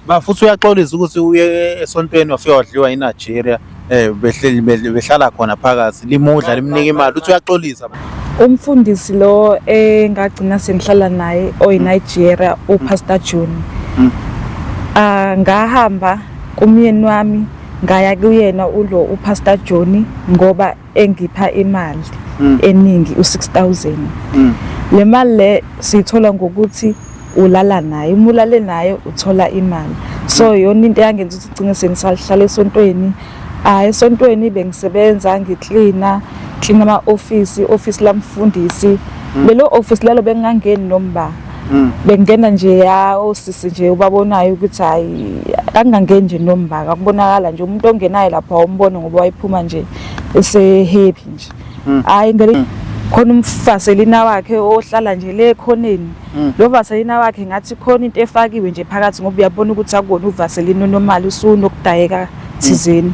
Ba futhi uyaxolisa ukuthi uye esontweni wafika wadliwa iNigeria eh behleli behlala khona phakathi limudla limnika imali uthi uyaxolisa. Umfundisi lo engagcina sengihlala naye oyiNigeria uPastor June. Hmm. Ah ngahamba kumyeni wami ngaya kuyena ulo uPastor Joni ngoba engipha imali mm. eningi u6000 mm. le mali le siyithola ngokuthi ulala naye uma ulale naye uthola imali so mm. yona into eyangenza ukuthi ugcine sengisalihlala esontweni hayi esontweni bengisebenza ngiklina klina ama-ofisi ofisi lamfundisi lelo ofisi lalo bengingangeni nomba Mm. bengena nje ya osisi nje ubabonayo ukuthi hayi kangangeni nje nombaka kubonakala nje umuntu ongenayo lapha umbone ngoba wayiphuma nje esehappy nje mm. hayi ngeke mm. khona umfaselina wakhe ohlala nje le khoneni lo vaselina wakhe ngathi khona into efakiwe nje phakathi ngoba uyabona ukuthi akona uvaselina onomali usunokudayeka thizeni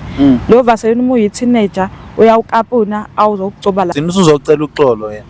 lo vaselina uma uyi teenager uyawukapuna awuzokugcoba la sinusuzocela uxolo yena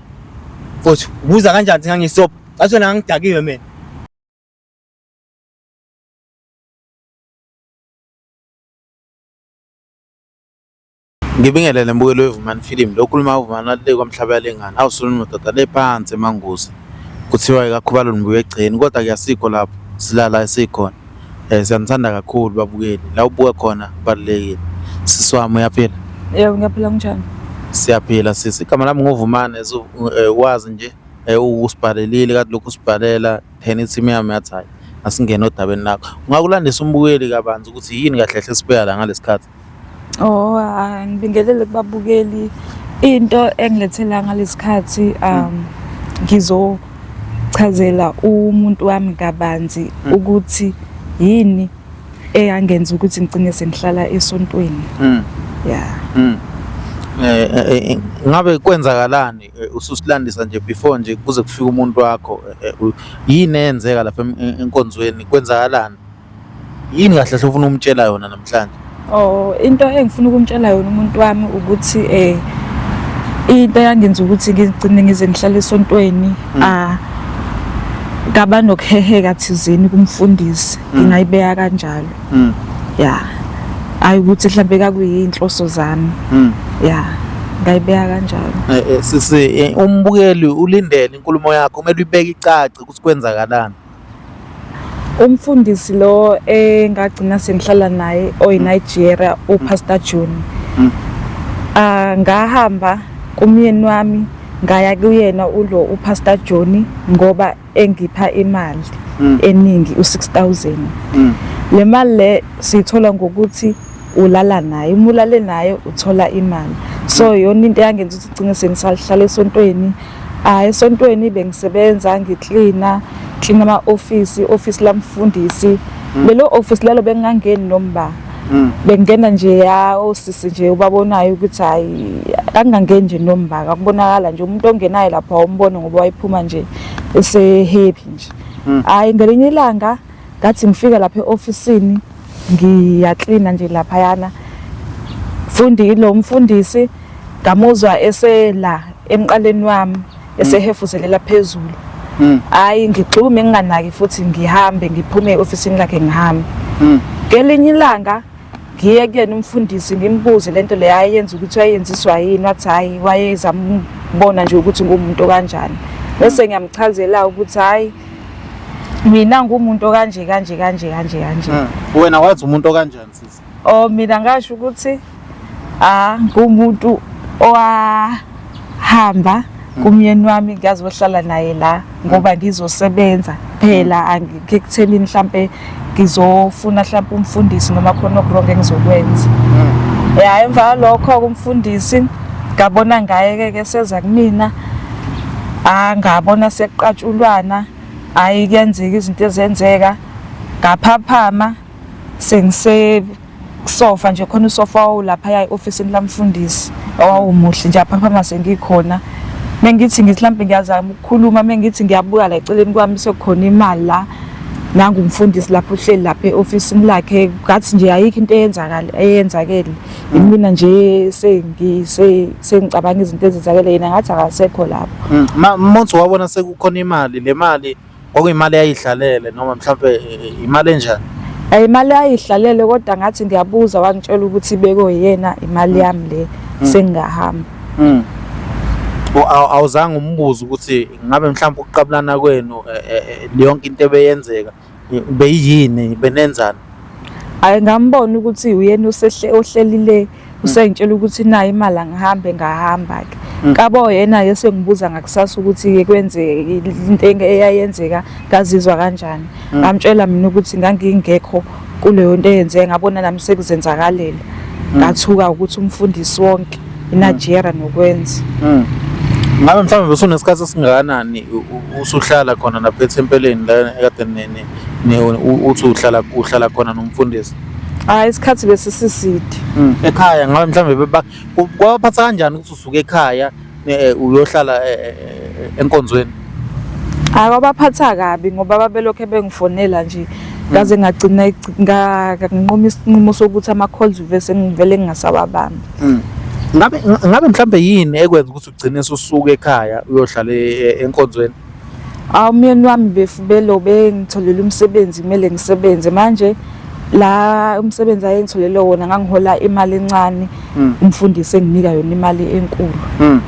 Mfowethu, ubuza kanjani ukuthi ngangiyisobho? Ngathi wena ngangidakiwe mina. Ngibingelele mbukelo weVumani Film. Lo khuluma uVumani walile kwaMhlaba yalengana. Awusuluni madoda le phansi emanguzi. Kuthiwa ikakhubalo nibuya egceni kodwa kuyasikho lapho silala esikhona. Eh siyanithanda kakhulu babukeli. La ubuka khona kubalulekile. Sisi wami uyaphila? Yebo ngiyaphila kunjani? Siyaphila sisi. Igama lami ngovumane eh, wazi nje eh, usibhalelile kade lokhu usibhalela then i-team yami yathi hayi asingene odabeni lakho. Ungakulandisa umbukeli kabanzi ukuthi yini kahle kahle esibeka la ngalesi khathi? Oh, ah, ngibingelele kubabukeli. Into engilethela ngalesikhathi um ngizochazela umuntu wami kabanzi Mm. ukuthi yini eyangenza ukuthi ngicine sengihlala esontweni. Mm. Yeah. Mm. Eh, eh, eh, ngabe kwenzakalani eh, ususilandisa nje before nje kuze kufike umuntu wakho eh, eh, u- yini eyenzeka lapha em- em- enkonzweni kwenzakalani Yini kahle hle ufuna ukumtshela yona namhlanje? Oh, into engifuna ukumtshela yona umuntu wami ukuthi eh into yangenza ukuthi ngigcine ngize ngihlale esontweni hmm. ah ngaba nokuheheka thizeni kumfundisi hmm. ngingayibeka kanjalo. Hmm. Yeah. Ayi ukuthi mhlambe kakuyinhloso zami. Yeah. ngayibeka kanjalo eh, eh, sisi eh, umbukeli ulindele inkulumo yakho kumele uyibeke icace ukuthi kwenzakalani Umfundisi lo engagcina sengihlala naye oyiNigeria uPastor June. Mm. Ah ngahamba kumyeni wami ngaya kuyena ulo uPastor Joni ngoba engipha imali mm. eningi u6000. Mm. Le mali le sithola ngokuthi ulala naye umulale naye uthola imali so yona into yangenza ukuthi ugcine sengisalihlala esontweni Hayi esontweni bengisebenza ngiklina klina ama office office lamfundisi hmm. lelo office lalo bengangeni nomba hmm. bengena nje ya osisi nje ubabonayo ukuthi hayi angangeni nje nomba akubonakala nje umuntu ongenayo lapha umbone ngoba wayiphuma nje ese happy nje hmm. hayi ngelinye ilanga ngathi ngifika lapha eofisini ngiyaklina nje lapha yana fundi lo mfundisi ngamuzwa esela emqaleni wami esehefuzelela phezulu hmm. hayi ngigxume nginganaki futhi ngihambe ngiphume eofisini lakhe ngihambe hmm. ngelinye ilanga ngiye kuyena umfundisi ngimbuze lento le ayenza ukuthi wayenziswa yini wathi hayi wayezambona nje ukuthi ngumuntu kanjani bese ngiyamchazela ukuthi hayi mina ngumuntu okanje kanje kanje kanje kanje hmm. wena wathi umuntu okanjani sisi oh mina ngasho ukuthi ah ngumuntu owahamba hmm. kumyeni wami ngiyazi ohlala naye la ngoba hmm. ngizosebenza phela angikutheni mhlambe ngizofuna mhlawumbe umfundisi noma khona okurongo engizokwenza hmm. ya emva kwalokho-ke umfundisi ngabona ngaye-ke ke seza kumina angabona ah, sekuqatshulwana hhayi kuyenzeka izinto ezenzeka ngaphaphama sengise kusofa nje khona usofa wawulaphaya e-ofisini lamfundisi owawumuhle nje aphaphama sengikhona mengithi ngithi mhlawumbe ngiyazama ukukhuluma mengithi ngiyabuka la eceleni kwami sekukhona imali la nangu umfundisi lapho uhleli lapha e-ofisini lakhe ngathi nje ayikho into eyenzakale eyenzakele imina nje sengi sengicabanga izinto ezenzakele yena ngathi akasekho lapho mm, motho wabona sekukhona imali le mali kwakuyimali eyayidlalele noma mhlawumbe eh, imali enjani eh, imali ayidlalele kodwa ngathi ngiyabuza wangitshela ukuthi ibeko yena imali mm. yami le mm. sengingahamba mm. awuzange umbuze ukuthi ngabe mhlawumbe ukuqabulana kwenu eh, yonke into ebeyenzeka beyini benenzani ayingambona ukuthi uyena usehle ohlelile usengitshela ukuthi nayo imali angihambe ngahamba ke mm. kabo yena yesengibuza ngakusasa ukuthi kwenze into eyayenzeka ngazizwa kanjani mm. ngamtshela mina ukuthi ngangingekho kuleyo nto eyenzeka ngabona nami sekuzenzakalele mm. ngathuka ukuthi umfundisi wonke inajera nokwenza ngabe mhlawumbe usunesikhathi esingakanani usuhlala khona lapha ethempeleni la ekade uthi uhlala uhlala khona nomfundisi hayi isikhathi bese siside hmm, ekhaya ngabe mhlawumbe kwabaphatha kanjani ukuthi usuke ekhaya eh, uyohlala eh, eh, enkonzweni hayi kwabaphatha kabi ngoba babelokhu bengifonela nje hmm. ngaze ngagcina nganquma isinqumo sokuthi ama-calls vese ngivele ngingasawabambi hmm. ngabe ngabe mhlambe yini ekwenza ukuthi ugcine ususuka ekhaya uyohlala e, e, enkonzweni Aw umyeni wami befubelo bengitholela umsebenzi kumele ngisebenze manje la umsebenzi ayengitholele wona ngangihola imali encane hmm. umfundisi enginika yona imali enkulu hmm.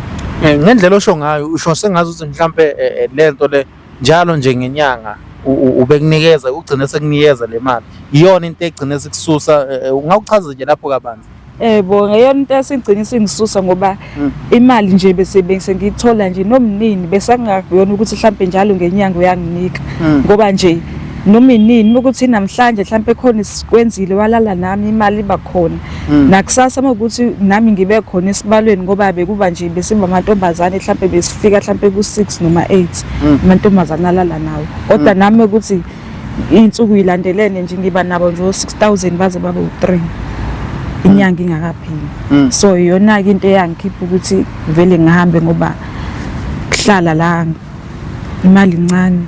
eh, ngendlela osho ngayo usho sengazi ukuthi mhlambe eh, eh, lento le njalo nje ngenyanga ubekunikeza ugcine sekunikeza le mali iyona into egcine sikususa ungawuchaza nje lapho kabanzi Eh bo ngeyona into esigcina singisusa ngoba hmm. imali nje bese bese ngithola nje nomnini bese kungakuyona ukuthi mhlambe njalo ngenyanga uyanginika hmm. ngoba nje noma inini ukuthi namhlanje mhlambe khona isikwenzile walala nami imali iba khona hmm. nakusasa ukuthi nami ngibe khona esibalweni ngoba bekuba nje besiba amantombazane mhlambe besifika mhlambe ku6 noma 8 amantombazane alala nawo kodwa nami ukuthi iy'nsuku yilandelene nje ngiba nabo nje o-six thousand baze babe u-three inyanga ingakapheli Mm. so iyona-ke into eyangikhipha ukuthi vele ngihambe ngoba kuhlala la imali incane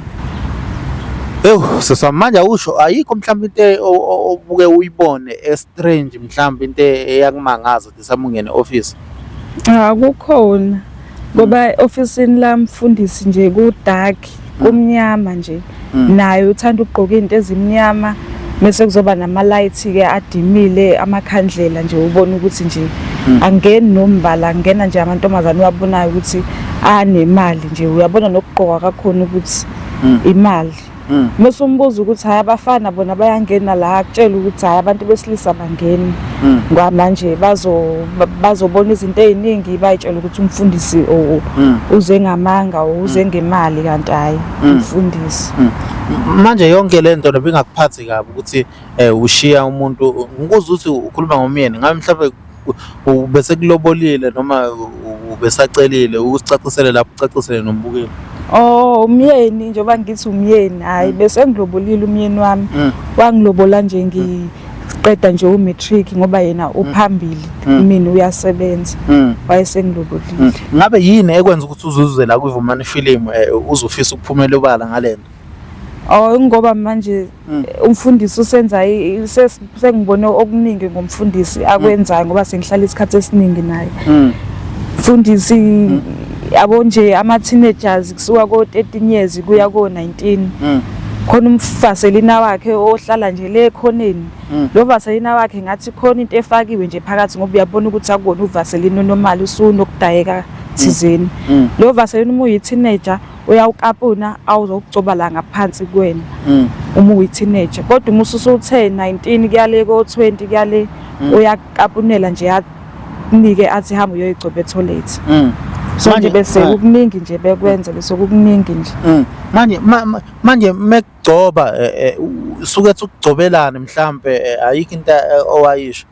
Ewu sisa manje awusho ayikho mhlawumbe into e- o- o- obuke uyibone estrange mhlawumbe into e- eyakumangaza Samungene office. Cha kukhona ngoba ofisini lami mfundisi nje ku dark mm. kumnyama nje mm. naye uthanda ukugqoka izinto ezimnyama mese kuzoba nama lights ke adimile amakhandlela nje ubona ukuthi nje mm. angeni nombala angena nje amantombazane uyabonayo ukuthi anemali nje uyabona nokugqoka kakhona ukuthi imali Mm. Mese umbuza ukuthi hayi abafana bona bayangena la akutshela ukuthi hayi abantu besilisa bangeni. Mm. Ngoba manje bazo bazobona izinto eziningi bayitshela ukuthi umfundisi mm. uze ngamanga uze ngemali kanti hayi umfundisi. Manje yonke lento nebingakuphathi kabi ukuthi eh ushiya umuntu ngikuza ukuthi ukhuluma ngomyeni ngabe mhlawumbe ubesekulobolile noma ubesacelile ukusicacisele lapho ucacisele nombukeli Oh umyeni njengoba ngithi umyeni hayi mm. bese ngilobolile umyeni wami mm. wangilobola nje ngiqeda nje u matric ngoba yena mm. uphambili mina uyasebenza wayesengilobolile ngabe yini ekwenza ukuthi uzuze la kuvumani film eh, uzofisa ukuphumela obala ngalento Oh ngoba manje Mm. umfundisi usenza sengibone okuningi ngomfundisi akwenzayo ngoba sengihlala isikhathi esiningi naye mm. mfundisi mm. yabo nje ama-teenagers kusuka ko-13 years kuya ko-19 khona umvaselina wakhe ohlala nje le khoneni lo vaselina wakhe ngathi khona into efakiwe nje phakathi ngoba uyabona ukuthi akubona uvaselina onomali usunokudayeka thizeni lo vaselina uma uyi-teenager uyawukapuna awuzokucoba la ngaphansi kwena mm. uma uyi-teenager kodwa uma ususuthe 19 kuyale ko-20 kuyale mm. uyakapunela nje anike athi hamba uyoyigcoba etholethi mm. so manje bese eh. kukuningi nje bekwenze bese kukuningi nje mm. manje manje mekugcoba eh, eh, suke ukugcobelana mhlambe ayikho into owayisho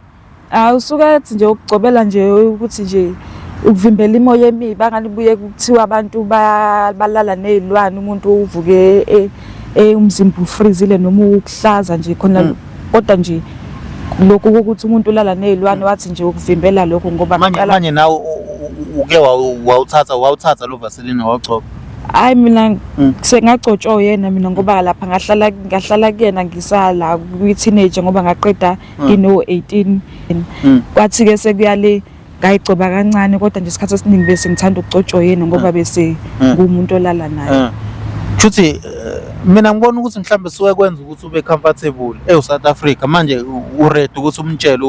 Ah usuke ethi nje ukugcobela nje ukuthi nje ukuvimbela imoya emibi angalibuye kuthiwa abantu balala nezilwane umuntu uvuke e, e, umzimba ufrizile noma ukuhlaza nje khona mm. kodwa nje lokhu ukuthi umuntu ulala nezilwane mm. wathi nje ukuvimbela lokho ngoba manje manje nawe uke wawuthatha wawuthatha lo vaseline wawugcoba hayi mina mm. sengagcotshwa yena mina ngoba lapha ngahlala ngahlala kuyena ngisala kwi-teenager ngoba ngaqeda mm. ngino 18 mm. kwathi ke sekuyale ngayigcoba kancane kodwa nje isikhathi esiningi bese ngithanda ukugcotshwa yena ngoba mm. bese ngumuntu olala naye Shuthi eh, mina ngibona ukuthi mhlawumbe suke kwenza ukuthi ube comfortable eSouth Africa manje uready ukuthi umtshele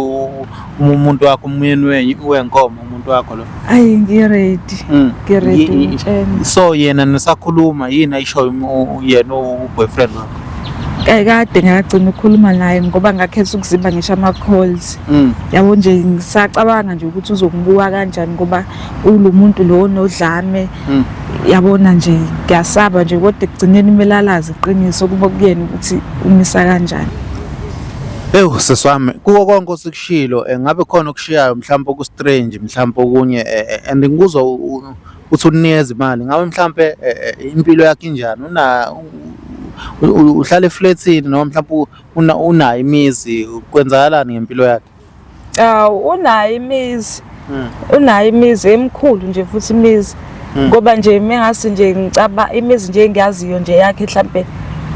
umuntu wakho umyeni wenkomo umuntu wakho lo ayi ngiready mm. ngiready ngitshena so yena nisakhuluma yini ayishoyo yena uboyfriend wakho kade ngagcina ukukhuluma naye ngoba ngakhetha ukuzimba ngisho ama-calls mm. yabo nje ngisacabanga nje ukuthi uzokubuka kanjani ngoba ulo muntu lo onodlame mm. yabona nje ngiyasaba nje kodwa ekugcineni kumele alazi iqiniso kuba kuyena ukuthi umisa kanjani ewu seswami kuko konke osikush okushilo eh, ngabe khona okushiyayo mhlawumbe oku-strange mhlawumbe okunye eh, eh, and ngikuzwa uthi unikeza imali ngabe mhlawumbe impilo yakhe injani uhlala eflethini noma mhlawumbe unayo imizi kwenzakalani ngempilo yakhe awu unayo imizi mm. unayo imizi emkhulu nje futhi imizi mm. ngoba nje mengase nje ngicaba imizi nje engiyaziyo nje yakhe mhlambe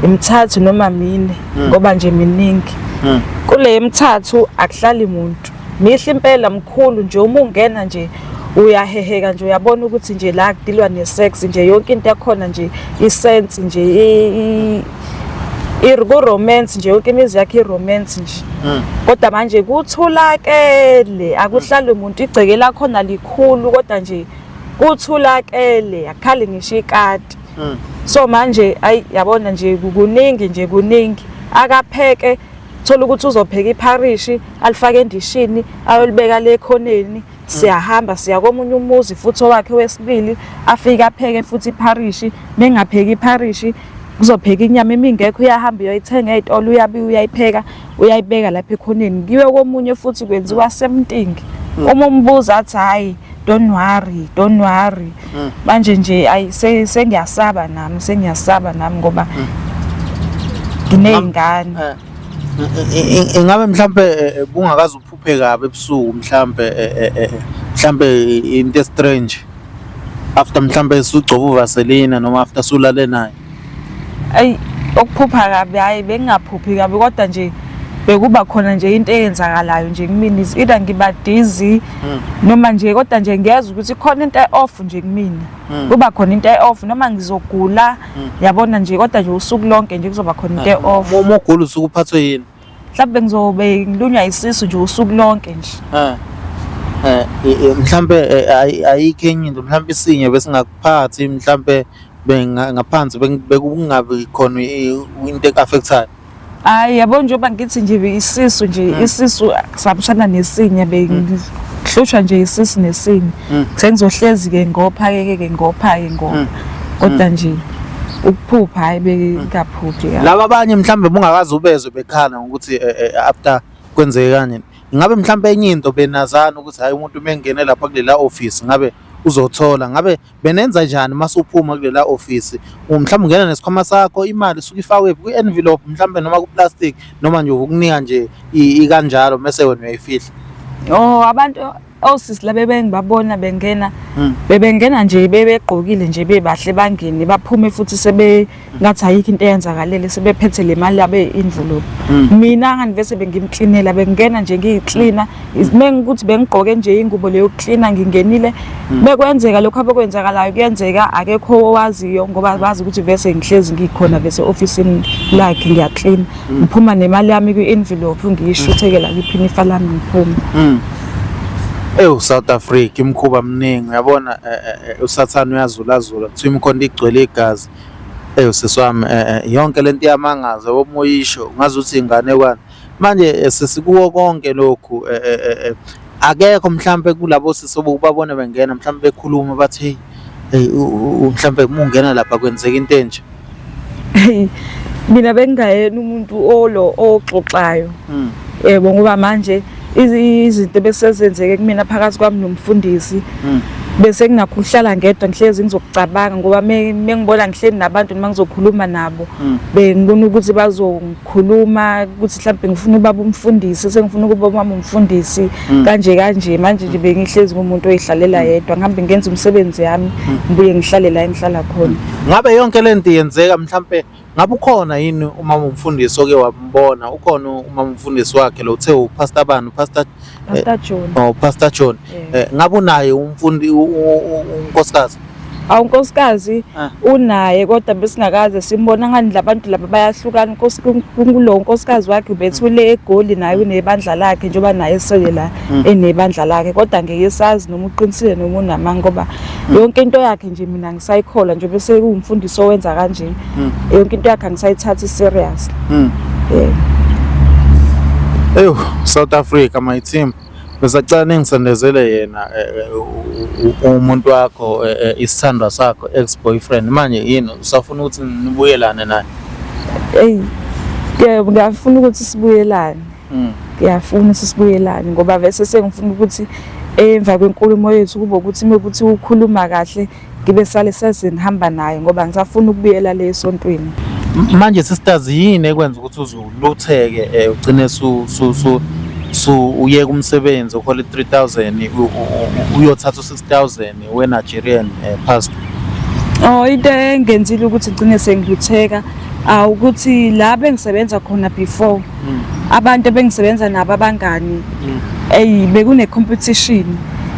imithathu noma mine mm. ngoba nje miningi mm. kule emithathu akuhlali muntu mihle impela mkhulu nje uma ungena nje uyaheheka nje uyabona ukuthi nje la kudilwa ne-sex nje yonke into yakhona nje isense nje Irgo romance nje yonke imizi yakhe iromance nje. Mm. Kodwa manje kuthulakele akuhlali umuntu igceke lakho nalikhulu kodwa nje kuthulakele akhali ngisho ikati. Mm. So manje ayi yabona nje kuningi nje kuningi akapheke thola ukuthi uzopheka ipharishi alifake endishini ayolibeka le khoneni siyahamba siya komunye umuzi futhi owakhe wesibili afike apheke futhi ipharishi bengapheki ipharishi kuzopheka inyama imingekho uyahamba uyoyithenga ezitolo uyabiya uyayipheka uyayibeka lapha ekhoneni kiwe komunye futhi kwenziwa semtingi mm. uma umbuza athi hayi don't worry don't worry mm. manje nje ayi sengiyasaba nami sengiyasaba nami ngoba mm. ngineyingane eh, eh, eh, ingabe mhlambe bungakazi Pheka kabi ebusuku mhlambe eh, eh, eh, mhlambe into strange after mhlambe sugcoba uvaselina noma after sulale naye ayi okuphupha kabi hayi bengingaphuphi kabi kodwa nje bekuba khona nje into eyenzakalayo nje kumina is either ngiba dizzy hmm. noma nje kodwa nje ngiyeza ukuthi khona into off nje kumina hmm. kuba khona into off noma ngizogula hmm. yabona nje kodwa nje usuku lonke nje kuzoba khona into off uma ugula usuku uphathwe yini mhlawumbe ngizobe ngilunywa isisu nje usuku lonke nje Eh. Eh, i- i- mhlampe eh, ayi- ayikho enye into mhlampe isinye besingakuphathi mhlampe benga- ngaphansi beng- bekungabi khona i- into eku-affectayo hayi yabo njengoba ngithi nje isisu nje Mm. isisu sabushana nesinye bengihlushwa nje isisu nesinye Mm. sengizohlezi-ke ngopha-ke ke ngopha-ke ngopha Mm. kodwa nje ukuphupha hayi bengaphuphi laba abanye mhlawumbe bungakazi ubezwe bekhala ngokuthi eh, eh, after kwenzeke kanje ngabe mhlawumbe enye into benazana ukuthi hayi umuntu uma engene lapha kulela office ngabe uzothola ngabe benenza njani uma suphuma kulela office mhlawumbe ungena nesikhwama sakho imali usuke ifakwe kwi-envelope mhlawumbe noma kuplastic noma nje ukunika nje ikanjalo mese wena uyayifihla oh abantu osisi laba ebengibabona bengena hmm. bebengena nje bebegqokile nje bebahle bangene baphume futhi sebe ngathi ayikho into eyenzakalele sebephethe le mali yabe envelope hmm. mina ngandivese bengimklinela bengena nje ngiyiklina mengikuthi bengigqoke nje ingubo leyo klina ngingenile hmm. bekwenzeka lokho abekwenzakalayo kuyenzeka akekho owaziyo ngoba bazi ukuthi vese ngihlezi ngikhona vese office lakhe ngiyaklina ngiphuma nemali yami kwi-envelope ngiyishuthekela kiphini ifa lami ngiphume mm. ewu south africa imkhuba mningi uyabona eh, eh, eh, usathane uyazulazula kuthiwa imikhonto igcwele igazi ewu sisi wami yonke le nto iyamangaza womoyisho ngazuthi inganekwane manje sesikuwo konke lokhu akekho mhlampe kulabo sisi obubabona bengena mhlampe bekhuluma bathi hey hey mhlampe uma ungena lapha kwenzeka into enje mina bengingayena umuntu olo oxoxayo hmm. yebo ngoba manje izinto besezenzeke kumina phakathi kwami nomfundisi hmm. bese ngingakuhlala ngedwa ngihlezi ngizokucabanga ngoba mengibona ngihleli nabantu noma ngizokhuluma nabo hmm. bengibona ukuthi khuluma ukuthi mhlawumbe ngifuna ubaba umfundisi sengifuna ukuba umama umfundisi hmm. kanje kanje manje nje bengihlezi kumuntu oyidlalela hmm. yedwa ngihambe ngenza umsebenzi yami hmm. ngibuye ngihlale la engihlala khona ngabe yonke le nto yenzeka mhlawumbe ngabe ukhona yini umama umfundisi oke wambona ukhona umama umfundisi wakhe lo uthe upastor bani upastor pastor eh, John oh pastor John eh, ngabe unaye umfundi unkosikazi awu nkosikazi ah. unaye kodwa besingakaze simbona ngani labantu laba bayahlukana kulo nkosikazi wakhe ubethule egoli naye mm. unebandla lakhe njengoba naye esele la mm. enebandla lakhe kodwa ngeke sazi noma uqinisile noma unamanga ngoba mm. yonke into yakhe nje mina ngisayikhola nje bese ungumfundisi owenza kanje yonke into yakhe angisayithathi serious yeah eyo south africa my team Ngisacela ningisondezele yena umuntu wakho isithandwa sakho ex boyfriend manje yini usafuna ukuthi nibuyelane naye? Eyi yebo ngiyafuna ukuthi sibuyelane. Mm. Ngiyafuna ukuthi sibuyelane ngoba vese sengifuna ukuthi emva kwenkulumo yethu kube ukuthi mekuthi ukhuluma kahle ngibe sale sesini hamba nayo ngoba ngisafuna ukubuyela le esontweni manje sisters yini ekwenza ukuthi uzulutheke eh, ugcine su su su su uye kumsebenzi ukhole 3000 uyothatha u6000 we Nigerian eh, pastor Oh into engenzile ukuthi ngcine sengilutheka awukuthi la bengisebenza khona before mm. abantu ebengisebenza nabo abangani mm. eyi bekune competition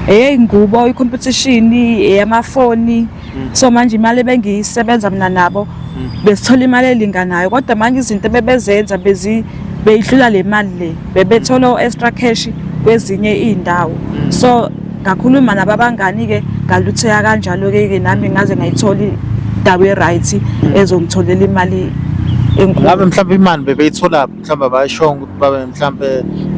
eyeyi ngubo i-competition eyamafoni mm. so manje imali ebengiyisebenza mina nabo besithola imali elinganayo kodwa manje izinto ebebezenza bezi beyidlula le mali le bebethola o-extra cash kwezinye iy'ndawo so ngakhuluma nabo abangani-ke ngalutheka kanjalo-ke-ke nami ngaze ngayithola indawo e-right ezongitholela imali enkulu ngabe mhlawumbe imali bebeyitholaphi mhlawumbe abayishongo ukuthi babe mhlawumbe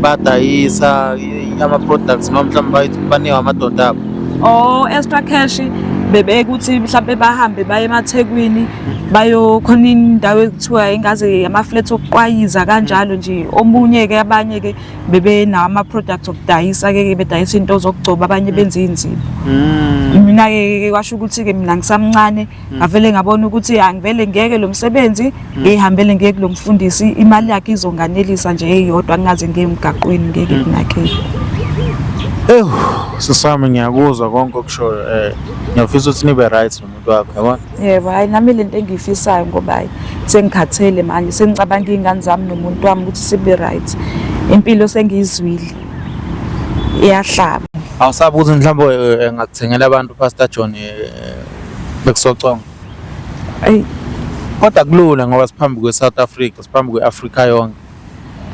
badayisa ama-products noma mhlawumbe baniwe amadoda abo or extra cash bebeke ukuthi mhlawumbe bahambe baye emathekwini bayokhona indawo ekuthiwa ingaze ama-flat okuqwayiza kanjalo nje omunye-ke abanye-ke bebenawo ama-products okudayisa-ke ke bedayisa iy'nto zokugcoba abanye mm. benza iy'nzima mm. mina-ke kwasho ukuthi-ke mina ngisamncane mm. ngavele ngabona ukuthi angivele ngiyeke lo msebenzi ngiyihambele ngiye kulo mfundisi imali yakhe izonganelisa nje eyodwa ngingaze ngiye emgaqweni ngeke kunakele ewu sisami ngiyakuzwa konke okushoyo um ngiyafisa ukuthi nibe right wakho yabona yebo hayi nami le nto engiyifisayo ngoba hayi sengikhathele manje sengicabanga iy'ngane zami nomuntu wami ukuthi sibe right impilo sengiyizwile iyahlaba awusabi ukuthi mhlawumbe eh, eh, ngakuthengela abantu pastor john eh, bekusoconga ayi kodwa kulula ngoba siphambi kwe-south africa siphambi kwe-afrika yonke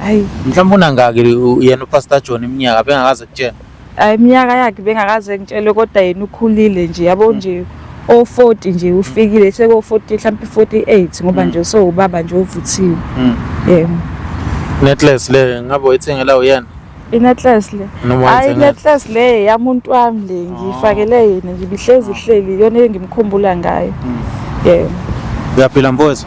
ayi mhlawumbe unangaki yena upastor john iminyaka bengakaze kutshena Hayi iminyaka yakhe bengakaze ngitshelwe kodwa yena ukhulile nje yabo mm. nje o40 nje mm. ufikile seko 40 mhlawumbe 48 ngoba mm. nje so ubaba nje ovuthiwe. Yebo. Netless le ngabe uyithengela uyena? Inetles le. Hayi inetles le yamuntu wami le ngifakele ah. yena ngibihlezi ihleli yona engimkhumbula ngayo. Yebo. Uyaphila mfowethu?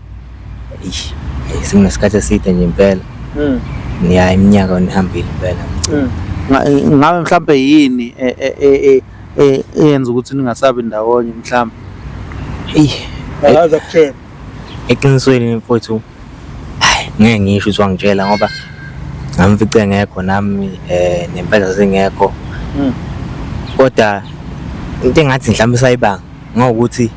Eish, eh, sekunesikhathi eside nje impela Mm. ya iminyaka yona ihambile impela Mm. Nga- eh, ngabe mhlampe yini e- e- e- e- e- eyenza ukuthi ningasabi ndawonye mhlampe eyi Akaza kutshela. eqinisweni mfowethu hayi ngeke ngisho ukuthi wangitshela ngoba ngamfice engekho nami eh nempela zingekho Mm. kodwa into engathi mhlawumbe sayibanga Ngokuthi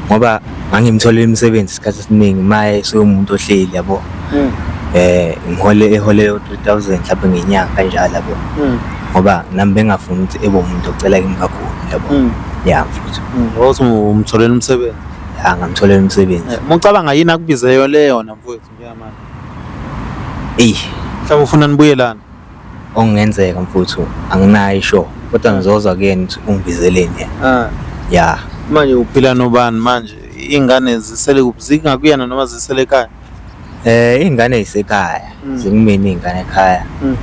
ngoba ngangimtholele imisebenzi isikhathi esiningi maye sewumuntu ohleli yabo hmm. eh ngihole ehole 3000 mhlawumbe ngenyanga kanjalo yabo hmm. ngoba nami bengafuni ukuthi ebe umuntu ocela kimi kakhulu yabo hmm. ya mfuthu ngokuthi umtholele umsebenzi ya ngamtholele umsebenzi eh, mucabanga yini akubizeyo leyo na mfuthu Yeah man. Eyi, Mhlawumbe ufuna nibuyelana. okungenzeka mfuthu anginayo isho kodwa ngizozwa kuyena ukuthi ungibizeleni yena. Ah, Ya, manje uphila nobani manje? Ingane zisele kuphi? Zinga kuyena noma zisele ekhaya? eh ingane yisekhaya, Mm. zikumina ingane ekhaya. Mm.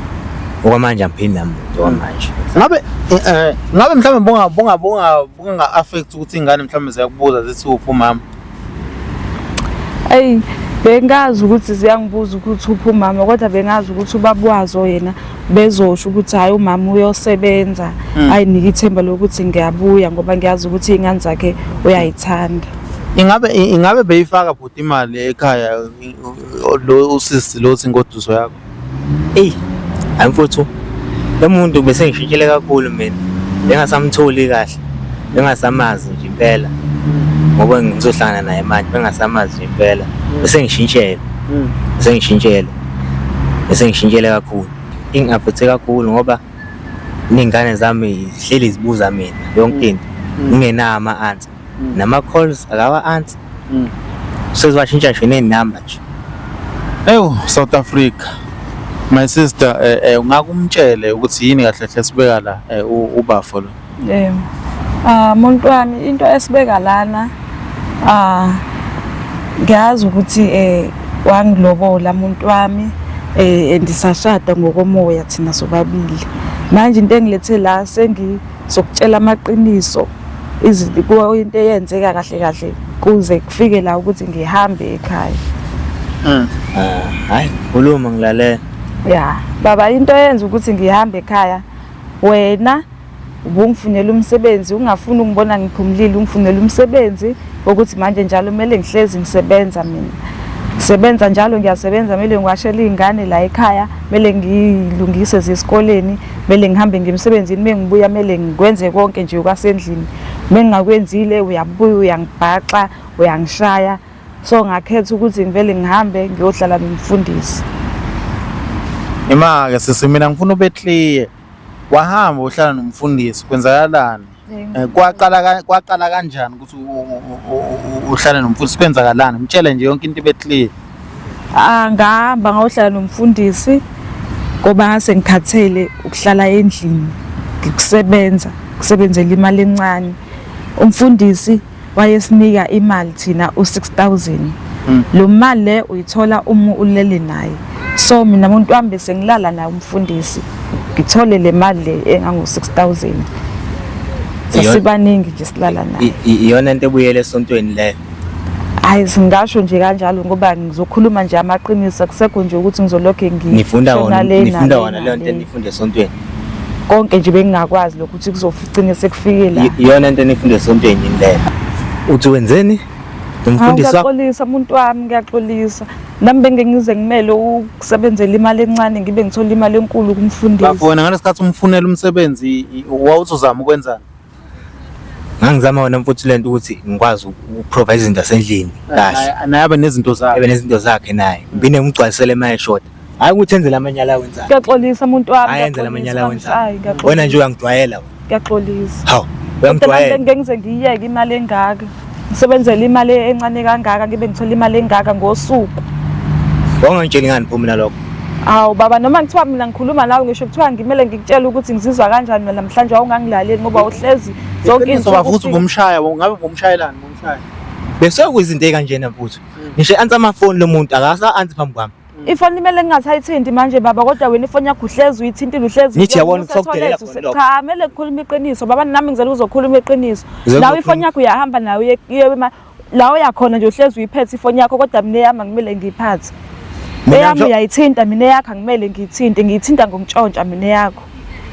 Okwamanje angiphindi namuntu okwamanje. Ngabe eh, eh, ngabe mhlawumbe bunga bunga bunga bunga affect ukuthi ingane mhlawumbe ziyakubuza zithi uphi umama. eyi bengazi ukuthi ziyangibuza ukuthi uphi umama kodwa bengazi ukuthi ubaba wazo yena bezosho ukuthi hhayi umama uyosebenza hmm. ayinike ithemba lokuthi ngiyabuya ngoba ngiyazi ukuthi iy'ngane zakhe uyayithanda ingabe ingabe beyifaka bhuti imali ekhaya lo usisi lo singoduso yakho Eyi, hayi mfuthu, lo muntu bese ngishintshile kakhulu mina. Bengasamtholi kahle, bengasamazi nje impela. Ngoba ngizohlangana naye manje, bengasamazi nje impela. Bese ngishintshele, bese ngishintshele, bese ngishintshele kakhulu. Ingaphuthe kakhulu ngoba ney'ngane zami zihleli zibuza mina yonke into, ngingenawo ama-answer. nama calls akawa answer sezibashintsha nje neynumber nje Ewu South Africa my sister eh, eh, ungakumtshele ukuthi yini kahle kahle sibeka la eh, u- ubafo lo Eh. Ah muntu wami into esibeka lana ah ngiyazi ukuthi eh wangilobola muntu wami eh andisashada ngokomoya thina sobabili. Manje into engilethe la sengi zokutshela amaqiniso izinto into eyenzeka kahle kahle kuze kufike la ukuthi ngihambe ekhaya mm. ah, hayi khuluma ngilalela ya baba into eyenza ukuthi ngihambe ekhaya wena ubungifunela umsebenzi ungafuni ungibona ngiphumulile ungifunela umsebenzi ukuthi manje njalo kumele ngihlezi ngisebenza mina sebenza njalo ngiyasebenza kumele ngiwashele iy'ngane la ekhaya kumele ngiyilungise zisikoleni mele ngihambe ngiye emsebenzini uma ngibuya mele ngikwenze konke nje okwasendlini uma ngingakwenzile uyabuya uyangibhaxa uyangishaya so ngakhetha ukuthi ngivele ngihambe ngiyohlala nomfundisi Ima-ke sisi mina ngifuna ube clear wahamba uhlala nomfundisi kwenzakalani Eh, kwaqala kwaqala kanjani ukuthi uhlale nomfundisi kwenzakalani mtshele nje yonke into ibe clear ah ngihamba ngayohlala nomfundisi ngoba ngase ngikhathele ukuhlala endlini ngikusebenza kusebenzela imali encane umfundisi wayesinika imali thina u6000 mm. lo mali le uyithola uma ulele naye so mina umuntu wami bese ngilala naye umfundisi ngithole le mali le engango 6000 sasibaningi nje silala naye iyona into ebuyele esontweni leyo hayi singasho nje kanjalo ngoba ngizokhuluma nje amaqiniso akusekho nje ukuthi ngizolokhe ngifunda wona ngifunda wona leyo nto enifunda esontweni konke nje bengingakwazi lokho ukuthi kuzoficine sekufikile Y- iyona into enifunde esontweni yini leyo uthi wenzeni Hawu, umfundisi wakho ngiyaxolisa muntu wami ngiyaxolisa nami bengengize ngimele ukusebenzela imali encane ngibe ngithola imali enkulu kumfundisi bafona ngalesikhathi umfunela umsebenzi i- wawuthi uzama ukwenzani ngangizama wona mfuthu lento ukuthi ngikwazi ukuprovide izinto zasendlini kahle naye abe nezinto zakhe abe nezinto zakhe naye ngibine ngigcwalisele emaye short hayi ukuthi enzele amanyala awenzayo kuyaxolisa umuntu wami hayi enzele amanyala awenzayo wena nje uyangidwayela kuyaxolisa hawu uyangidwayela ngengize ngiyeke imali engaka Ngisebenzela imali encane kangaka ngibe ngithola imali engaka ngosuku. Wawungangitsheli ngani pho mina lokho? Awu baba noma ngithiwa mina ngikhuluma nawe ngisho kuthiwa ngimele ngikutshele ukuthi ngizizwa kanjani mina namhlanje wawungangilaleli ngoba uhlezi zonke Iqiniso izinsuku bafuthu ufika. ubumshaya ngabe ubumshayelani ubumshaya. Bese kuyizinto ekanjena mfuthu. Ngisho ansa amafoni lomuntu akasa ansi phambi kwami. ifoni imele ngingasayithinti manje baba kodwa wena ifoni yakho uhlezi uyithintile uhlezi Ngithi yabona ukuthi sokudelela khona lokho. cha kumele kukhuluma iqiniso baba nami ngizela ukuzokhuluma iqiniso Ngizela lawo ukuzokhuluma- ifoni yakho uyahamba nayo uye- uye ema- la uyakhona nje uhlezi uyiphethe ifoni yakho kodwa mina eyami angimele ngiyiphathe Mina eyami ngisho- uyayithinta mina eyakho angimele ngiyithinte ngiyithinta ngokuntshontsha mina eyakho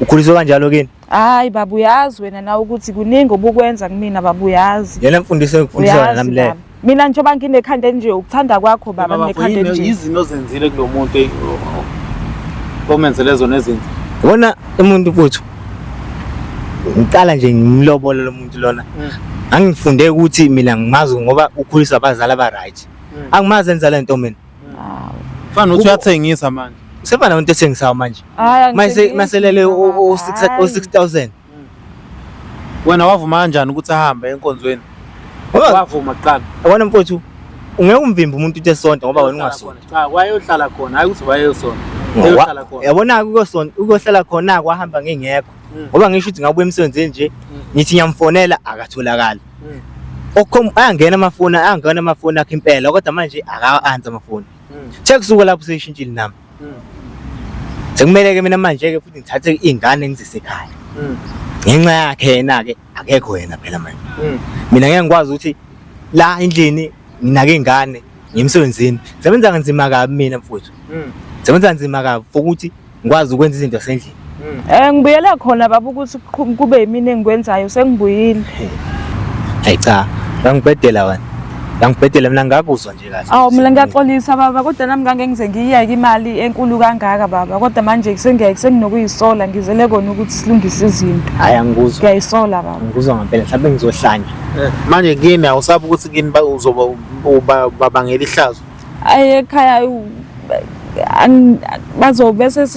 ukhuliswe kanjalo kini Hayi baba uyazi wena nawe ukuthi kuningi obukwenza kumina baba uyazi. Yena mfundisi engifundisa wena nami le. Mina njengoba nginekhanda enje ukuthanda kwakho baba nginekhanda enje. Yizini ozenzile kulomuntu eh, omenzele zona ezinto. Wona umuntu futhi ngiqala nje ngimlobola lo muntu lona mm. angifunde ukuthi mina ngimazi ngoba ukhulisa abazali aba-right mm. angimazi enza le nto mina Fana nokuthi uyathengisa manje. Usefana umuntu ethengisayo manje. Mase maselele o 6000. Wena wavuma kanjani ukuthi ahambe enkonzweni? Wavuma kuqala. Yabona mfowethu ungeke umvimbe umuntu uthe sonto ngoba wena ungasonto. Cha wayohlala khona hayi ukuthi wayeyosonto. Yabona ukuyosonto ukuyohlala khona kwahamba ngingekho. Hmm. Ngoba ngisho ukuthi ngabuya emsebenzini nje hmm. ngithi ngiyamfonela akatholakali. Mm. Okhom ayangena amafoni, ayangena amafoni akhe impela kodwa manje akawa answer amafoni. Mm. Sekusuka lapho seyishintshile nami. Mm. Sekumele ke mina manje ke futhi ngithathe izingane ngizise ekhaya. Mm. Ngenxa yakhe yena ke akekho yena phela manje. Mm. Mina ngeke ngikwazi ukuthi la endlini nginake ingane ngemsebenzini. Sebenza kanzima kabi mina mfowethu. Mm. Sebenza kanzima kabi ukuthi ngikwazi ukwenza izinto zasendlini Eh ngibuyele khona baba ukuthi kuqhu- kube yimina engikwenzayo sengibuyile. hayi cha ngangibhedela wena ngangibhedela mina ngakuzwa nje kahle Awu mina ngiyaxolisa baba kodwa nami ngangeke ngize ngiyiyeke imali enkulu kangaka baba kodwa manje kusengiyeke senginokuyisola ngizele kona ukuthi silungise izinto. hayi angikuzwa Ngiyayisola baba. ngikuzwa ngempela mhlawumbe ngizohlanya manje kimi awusabi ukuthi kimi ba- uzoba uba- babangela ihlazo ayi ekhaya bazovese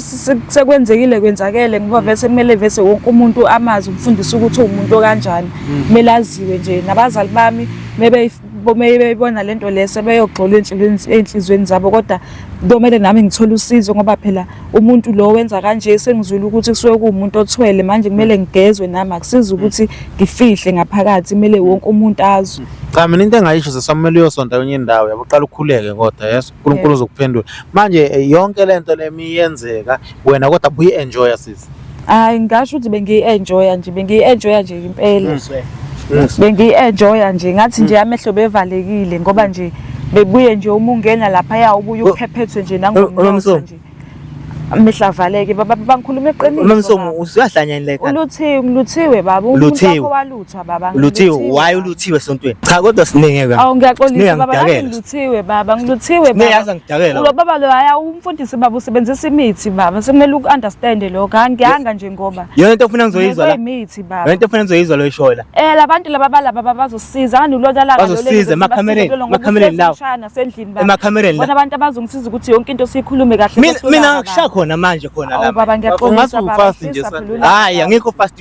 sekwenzekile kwenzakele ngoba mm. vese kumele vese wonke umuntu amazi ukufundisa ukuthi uwumuntu okanjani mm. kumele aziwe nje nabazali bami bebeyibona le nto le sebeyogxola ey'nhliziyweni zabo kodwa kumele nami ngithole usizo ngoba phela umuntu lo wenza kanje sengizwile ukuthi kusuke kuwumuntu othwele manje kumele ngigezwe nami akusiza ukuthi ngifihle ngaphakathi kumele wonke umuntu azwe cha mina into engayisho sesamele uyosonta kwenye indawo yabo uqala ukhuleke kodwa yes uNkulunkulu uzokuphendula manje eh, yonke lento lemi yenzeka wena kodwa buyi enjoy sisi hayi ngingasho ukuthi bengiyi-enjoya nje bengiyi-enjoya nje impela bengiyi-enjoya nje ngathi nje amehlo bevalekile ngoba nje bebuye nje uma ungena laphaya ubuye uphephethwe nje nangomnotho nje amehlo avaleke baba bangikhuluma eqiniso unomsomo usuyahlanya yini like uluthiwe ngiluthiwe baba umuntu wakho walutha Cha baba Luthiwe ngiluthiwe. why uluthiwe esontweni? Cha kodwa siningi ke. Awu ngiyaxolisa Siningi baba nami angidakela. ngiluthiwe baba ngiluthiwe Siningi baba. yazi angidakela. Ulo baba lo haya umfundisi baba usebenzisa imithi baba sekumele uku-understand lokho angiyanga nje ngoba. Yona into ofuna ngizoyizwa la. Imithi baba. Yona into ofuna ngizoyizwa lo ishoyo la. Eh labantu laba balaba baba bazosiza ngani ulona laka Bazosiza, emakhamereni, emakhamereni lawo. nasendlini baba. Emakhamereni la. Bona abantu abazongisiza ukuthi yonke into siyikhulume kahle. Mina mina ngikushaya khona manje khona Awu la. baba ngiyaxolisa Ungathi baba. ufast nje, ngifisa sa- phela ulaka. Hayi angikho fast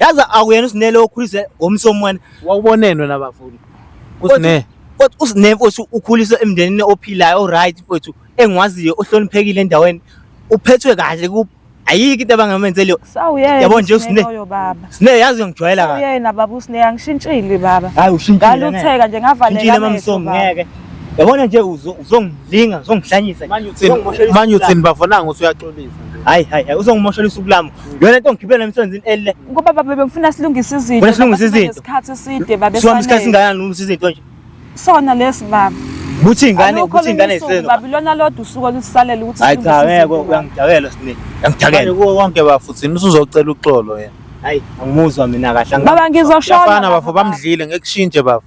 yazi akuyena usinele okhulise ngomsomwana wawubonenwe nabafuni kusine kodwa usine mfowethu ukhuliswe emndenini ophilayo oright mfowethu engwaziyo ohloniphekile endaweni uphethwe kahle ku ayikho into abangamenzeli yo sawuyena yabo nje usine loyo baba sine yazi ngijwayela kahle uyena baba usine angishintshile baba hayi ushintshile ngalutheka nje ngavaleka ngishintshile mamsomi ngeke yabona nje uzongilinga uzongihlanyisa manje uthini manje uthini bafona ngothi uyaxolisa hayi hayi uzongimoshela usuku lami Yona into ngigibela emsebenzini elile. Ngoba baba bengifuna silungise izinto. Wena silungise izinto. Isikhathi eside baba. Siwami isikhathi singayani ulungisa izinto nje. Sona lesi baba. Buthi ingane, buthi ingane iseno. Baba lona lodwa usuku olusalela ukuthi Hayi cha ngeke uyangidakela sine. Uyangidakela. Kuwo konke bafuthi usuzocela uxolo yena. Hayi angimuzwa mina kahle. Baba ngizoshona. Bafana bafo bamdlile ngekushintshe bafo.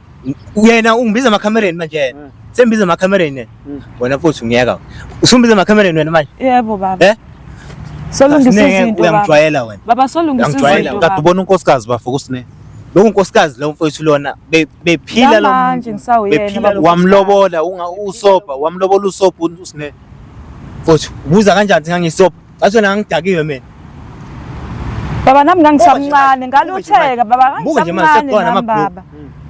Yena ungibiza emakhamereni manje yena. Mm. Sengibiza emakhamereni yena. Mm. Wena futhi ungiyeka. Usumbiza emakhamereni wena manje. Yebo baba. Eh? Solungisa izinto baba. Uyangijwayela wena. Baba solungisa izinto. Uyangijwayela. Kade ubona unkosikazi bafo kusine. Lo nkosikazi lo mfowethu lona bephila lo. Manje ngisawuyena baba. Wamlobola unga usopa, wamlobola usopa usine. Futhi ubuza kanjani ngangisopa? Ngathi nami ngidakiwe mina. Baba nami ngangisamncane ngalutheka baba ngangisamncane nami baba.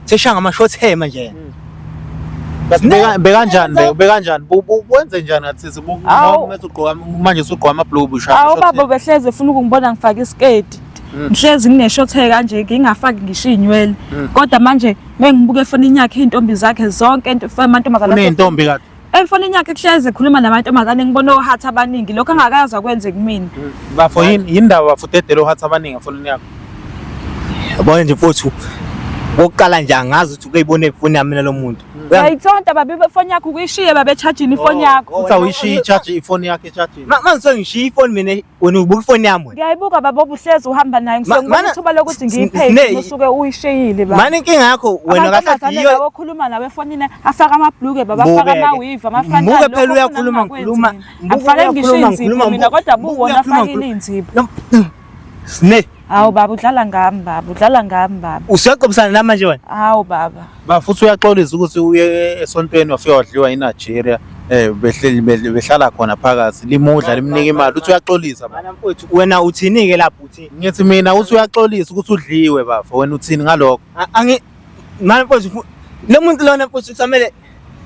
Seshanga ama short hair manje. Hmm. bekanjani be bekanjani wenze njani ngathi sibumethi ugqoka manje usugqoka ama blue busha awu baba behleze ufuna ukungibona ngifaka isketi hmm. ngihlezi ngine-short hair kanje ngingafaki ngisho iy'nywele hmm. kodwa manje mengibuka efonini yakhe iy'ntombi zakhe zonke amantombazane uney'ntombi kade Emfonini yakhe kuhlezi ekhuluma namantombazane ngibona ohatha abaningi lokho angakazi akwenze kumina. Bafo yini yini ndaba bafo dedele ohatha abaningi emfonini yakho. Yabona nje mfowethu kokuqala nje angazi ukuthi ukuyibona ifoni yami nalo muntu uyayithonta babe ifoni yakho ukuyishiye babe echajini ifoni oh, yakho uthi awuyishiye ichaji ifoni yakhe echajini manje sengishiye ifoni mina wena ubuka ifoni yami wena ngiyayibuka baba obuhlezi uhamba naye ngisengibona ithuba lokuthi ngiyiphethe usuke uyisheyile baba mani inkinga yakho wena kahle yiyo okhuluma nawe efonini afaka amabhluke baba afaka amawiva amafana muke phela uyakhuluma ngikhuluma ngifake ngisho inzipho mina kodwa buwona afakile inzipho sne Hawu baba udlala ngami baba, udlala ngami baba. Usuyaqobisana nami manje wena? Hawu baba. Ba futhi uyaxolisa ukuthi uye esontweni wafika wadliwa iNigeria. Eh behleli behl- behlala khona phakathi limudla limnika imali uthi uyaxolisa baba. Bana mfowethu wena uthini ke lapho uthini? Ngithi mina uthi uyaxolisa ukuthi udliwe bafo wena uthini ngalokho? A- Angi mani mfowethu fu- lo muntu lona mfowethu kusamele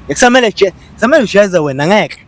kusamele je kusamele ujeze wena ngeke.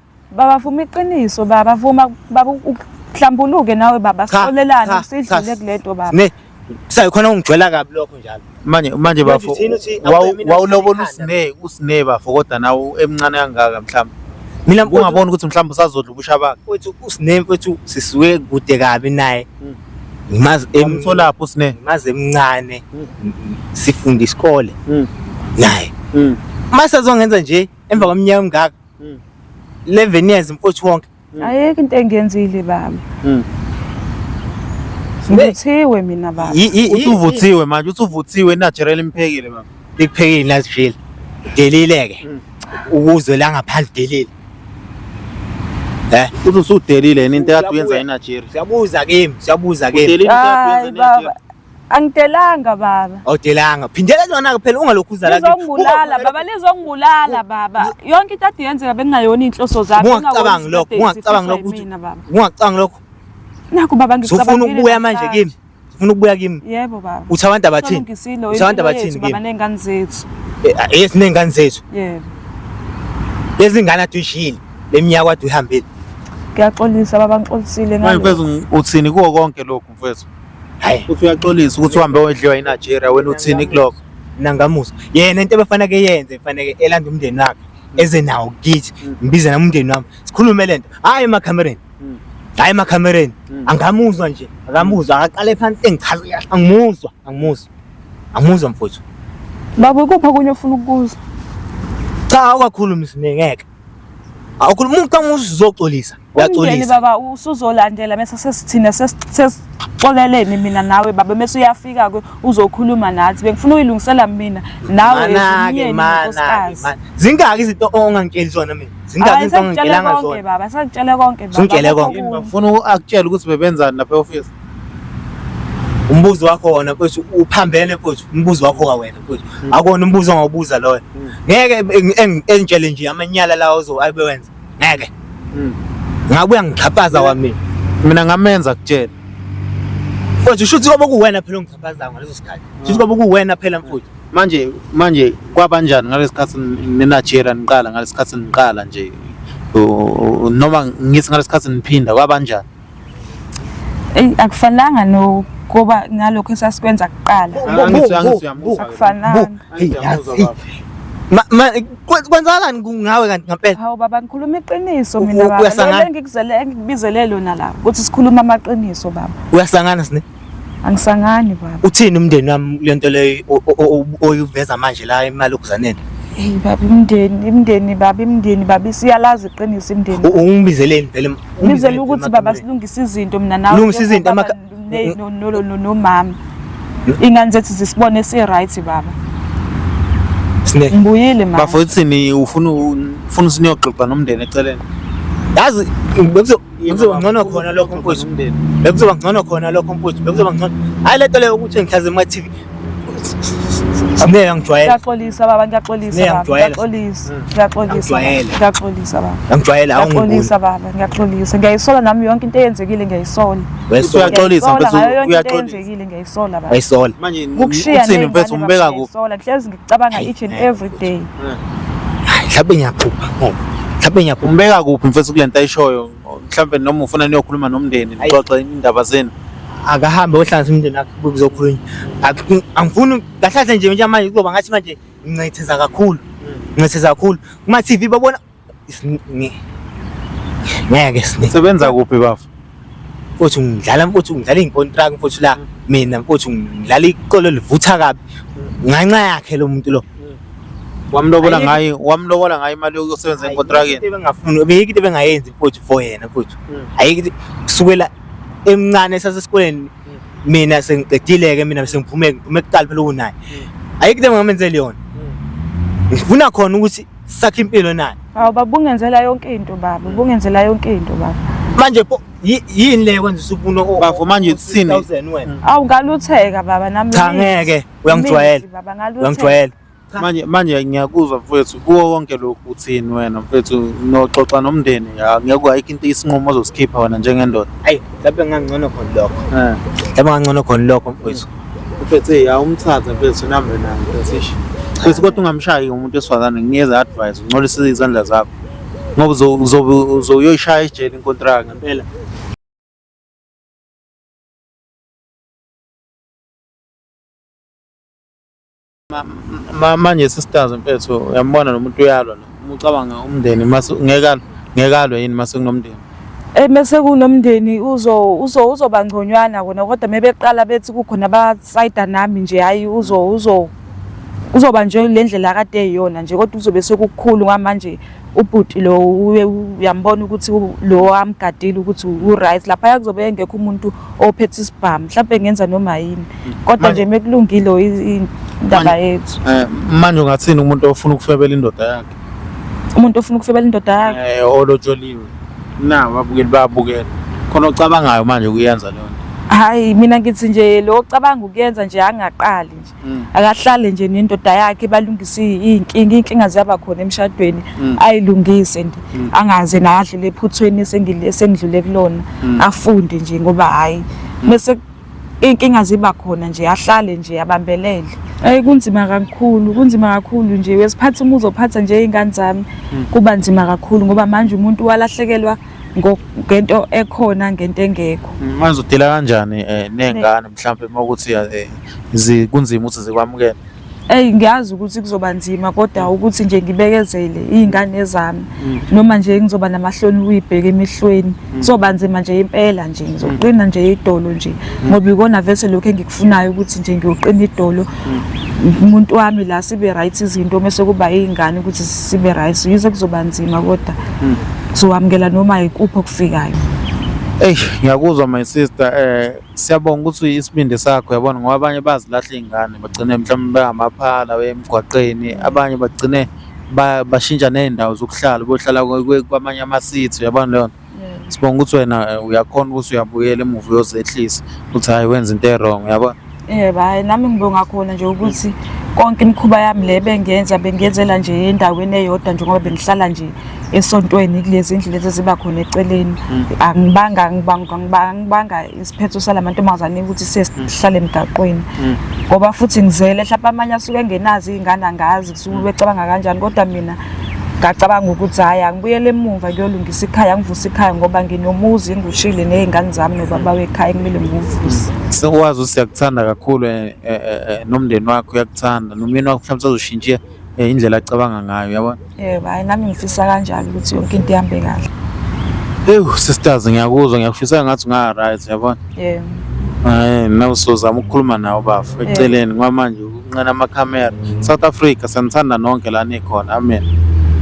Baba vuma iqiniso baba vuma baba uhlambuluke nawe baba Cha, sisolelane cha, sidlule cha. kule nto baba. Ne sayo khona ungijwela kabi lokho njalo. manje manje Manje bafo thina uthi wawu- awube mina wawulobola ngithanda. usine usine bafo kodwa nawo emncane kangaka mhlawumbe Mina mfowethu ungabona ukuthi mhlawumbe usazodla ubusha bakhe mfowethu usine mfowethu sisuke kude kabi naye. Mm. Ngimazi em- umtholapho usine ngimazi emncane. Mm. Sifunda isikole Mm. naye. Mm. Mase azongenza nje emva kweminyaka emingaka mm. 11 years mfowethu wonke mm. ayeke into engenzile baba mm. Ngivuthiwe mina baba. Uthi uvuthiwe manje, uthi uvuthiwe natural imphekile baba. Ikuphekile natural. Delile ke. Mm. Ukuzwe la ngaphandle delile. Eh, uthi usudelile yini into yakho yenza eNigeria. Siyabuza kimi, siyabuza kimi. Udelile into yakho yenza eNigeria. Angidelanga baba. Awudelanga. Phindela lona ke phela ungalokhu uzala kithi. Lizongibulala baba, lizongibulala baba. Yonke into ade yenzeka bekungayona inhloso zami. Ungacabangi lokho, ungacabangi lokho ukuthi ungacabangi lokho. Naku baba ngicabanga. Ufuna ukubuya manje kimi. Ufuna ukubuya kimi. Yebo baba. Uthi abantu abathini? Uthi abantu abathini kimi? Baba nengane zethu. Eh, ah, yes nengane zethu. Yebo. Lezi ngane aduyishile. Leminyaka wadu ihambile. Ngiyaxolisa baba ngixolisile ngalo. Manje uthini kuwo konke lokho? mfowethu hayi uthi uyaxolisa ukuthi uhambe wedliwa iNigeria wena uthini kuloko mina ngamuzwa yena into ebefaneke yenze faneke elanda umndeni wakhe eze nawo kithi ngibize nami umndeni wami sikhulume lento hayi emakhamereni hayi emakhamereni angamuzwa nje akamuzwa akaqale phansi engichaza kahle angimuzwa angimuzwa angimuzwa mfowethu Baba ukuphi okunye ofuna ukukuza? cha awukakhulumi sine ngeke Awukhuluma umuntu uma uzoxolisa. Uyaxolisa. Baba usuzolandela mase sesithina sesixoleleni mina nawe baba mase uyafika ke uzokhuluma nathi. Bengifuna uyilungisela mina nawe emnyeni nkosikazi. Zingaki izinto ongangitsheli zona mina? Zingaki izinto ongangitshelanga zona? Baba sakutshele konke baba. Sakutshele konke. Ngifuna akutshele ukuthi bebenzani lapha e-office. umbuzo wakho wona mfowethu uphambene mfowethu umbuzo wakho ka wena mfowethu hmm. akona umbuzo ongawubuza loyo hmm. ngeke engitshele nje amanyala lawo ozo abewenza ngeke hmm. ngabuya ngixhaphaza wamina mina ngamenza kutshela mfowethu usho ukuthi kobe kuwena phela ongixhaphazayo ngaleso sikhathi usho ukuthi kobe kuwena phela mfowethu manje manje kwabanjani ngalesikhathi ninajera niqala ngalesikhathi niqala nje noma ngithi ngalesikhathi niphinda kwabanjani eyi akufanelanga no kuba ngalokho esasikwenza kuqala Angithi- angithi uyamusa. akufanelanga Ma- ma- kwe- kwenzakalani ku- ngawe kanti ngampela hawu baba ngikhuluma iqiniso U- mina u- baba uyasangana? Lelo engikuzele engikubizele lona la ukuthi sikhuluma amaqiniso baba uyasangana sine Angisangani baba. Uthini umndeni wami lento leyo oyuveza manje la imali okuzaneni? Hey baba imndeni imndeni baba imndeni baba isiyalazi iqiniso imndeni. Ungibizeleni vele. Ngizela ukuthi baba silungisa izinto mina nawe. Lungisa izinto amaka no no no no mama. Ingane zethu zisibone si right baba. Sine. Ngibuyile mama. Bafo uthini ufuna ufuna sinyoxoxa nomndeni eceleni. Yazi bekuzoba ngcono khona lokho mfowethu umndeni bekuzoba ngcono khona lokho mfowethu bekuzoba ngcono hayi le nto leyo ukuthi ngihlaze kuma TV Ngeke ngijwayele. Ngiyaxolisa baba, ngiyaxolisa baba. Ngiyaxolisa. Hmm. Ngiyaxolisa. Ngiyaxolisa baba. Ngijwayele awungiboni. Ngiyaxolisa baba, ngiyaxolisa. Ngiyayisola nami yonke into eyenzekile ngiyayisola. Wesola uyaxolisa mfethu uyaxolisa. Yenzekile ngiyayisola baba. Wayisola. Manje uthini mfethu umbeka kuphi? Ngihlezi cabanga Hayi, each and ngeke every day Hayi, mhlawumbe ngiyaphupha ngoba mhlawumbe ngiyaphupha umbeka kuphi mfethu kule nto ayishoyo mhlawumbe noma ufuna niyokhuluma nomndeni Ayi. nixoxe indaba zenu akahambe ohlanganisa umndeni wakhe kuzokhulunywa Ak- angifuni kahlahle nje njengamanje kuzoba ngathi manje ngincetheza kakhulu ngincetheza kakhulu kuma-tv babona ngeke sine sebenza kuphi bafo mfowethu ngidlala mfowethu ngidlala iy'nkontraki mfowethu la mina mfowethu ngidlala iqolo livutha kabi nganxa yakhe lo muntu lo wamlobola ngayo wamlobola ngayo imali yokusebenza enkontrakini bengafuni beyike into bengayenzi mfowethu for yena mfowethu hmm. ayike kusukela emncane sasesikoleni hmm. mina sengiqedile-ke mina sengiphume ngiphume kuqala phela ukunaye hmm. ayike into bengamenzeli yona ngifuna khona ukuthi sakhe impilo naye hawu baba ungenzela yonke into baba ubungenzela yonke into baba manje pho yi- yini le kwenza usufuna o- Bafo, manje uthini? 6000 wena awu ngalutheka baba nami Cha, mithi. ngeke. Uyangijwayela. Mithi, baba ngalutheka uyangijwayela manje manje ngiyakuzwa mfethu kuwo wonke lokhu uthini wena mfethu noxoxa nomndeni ya ngeke ayikho into isinqumo ozosikhipha wena njengendoda ayi mhlawumbe ngangcono khona lokho Eh. mhlawumbe ngangcono khona lokho mfowethu Uphethe ya umthatha mfethu nambe naye mfethu. Mfethu kodwa ungamshayi umuntu esifazane nginikeza advice uncolise izandla zakho. Ngoba uzobe uzoyoyishaya ejele inkontraka ngempela. manje sisters mfethu uyambona nomuntu uyalwa lo uma ucabanga umndeni ngeke ngeke alwe yini mase kunomndeni eh mase kunomndeni uzo uzo uzoba ngconywana kona kodwa mebeqala bethi kukhona abasayida nami nje hayi uzo uzo uzoba nje le ndlela kade eyona nje kodwa uzobe sekukhulu ngamanje ubhuti lo uyambona ukuthi lo amgadile ukuthi u-right lapha yakuzobe engekho umuntu ophethe isibhamu mhlawumbe ngenza noma yini kodwa nje mekulungile indaba yethu eh, manje ungathini umuntu ofuna ukufebela indoda yakhe umuntu ofuna ukufebela indoda yakhe eh olotsholiwe na babukeli babukela khona ocabangayo manje ukuyenza leyo nto hayi mina ngithi nje lo ocabanga ukuyenza nje angaqali nje Mm. akahlale nje nendoda yakhe balungise iy'nkinga iy'nkinga ziyaba khona emshadweni mm. ayilungise nje mm. angaze naye adlule ephuthweni esengidlule kulona afunde nje ngoba hhayi mese iy'nkinga ziba khona nje ahlale nje abambelele Ey kunzima kakhulu kunzima kakhulu nje wesiphatha umuzi ophatha nje izingane zami kuba nzima kakhulu ngoba manje umuntu walahlekelwa ngento ekhona ngento engekho mm, manje udila kanjani eh, nengane mhlawumbe uma ukuthi eh, kunzima ukuthi zikwamukele eyi ngiyazi ukuthi kuzoba nzima kodwa mm. ukuthi nje ngibekezele iy'ngane zami mm. noma nje ngizoba namahloni ukuyibheka emehlweni mm. kuzoba nzima nje impela nje ngizoqina nje idolo nje ngoba ikona vese lokhu engikufunayo ukuthi nje ngiyoqina idolo umuntu wami la sibe right izinto mase kuba izingane ukuthi sibe right yize kuzoba nzima kodwa kuzowamukela noma ikuphi okufikayo Ey ngiyakuzwa my sister eh siyabonga ukuthi isibindi sakho yabona ngoba abanye bazilahla izingane bagcine mhlawumbe bengamaphala wemgwaqeni abanye bagcine bashintsha nezindawo zokuhlala bohlala kwamanye ama city yabona leyo sibonga ukuthi wena eh, uyakhona ukuthi uyabuyela emuva uyozehlisa ukuthi hhayi wenza into e-wrong yabona yebo hhayi nami ngibonga khona nje ukuthi konke imikhuba yami le bengenza bengenzela nje endaweni eyodwa njengoba bengihlala nje esontweni kulezi ndlu lezi ziba khona eceleni hmm. angibanga ngibanga isiphetho salamantombazane ukuthi sesihlale hmm. emgaqweni hmm. ngoba futhi ngizele hlapa amanye asuke engenazi iy'ngane angazi Zulu becabanga kanjani kodwa mina ngacabanga ukuthi hhayi angibuyele emumva kuyolungisa ikhaya angivusa ikhaya ngoba nginomuzi ngikushile ney'ngane zami nobaba wekhaya kumele ngiwuvuse sokwazi ukuthi siyakuthanda kakhulu eh, eh, eh, nomndeni wakho uyakuthanda nomyeni wakho mhlawumbe sazoshintsha indlela acabanga ngayo yabona yebo hhayi nami ngifisa kanjalo ukuthi yonke into ihambe kahle ewu sisters ngiyakuzwa ngiyakufisa ngathi unga-right yabona yebo um nawe sozama ukukhuluma nawo bafo eceleni kwamanje Nqina amakhamera. South Africa sanithanda nonke la nikhona. Amen.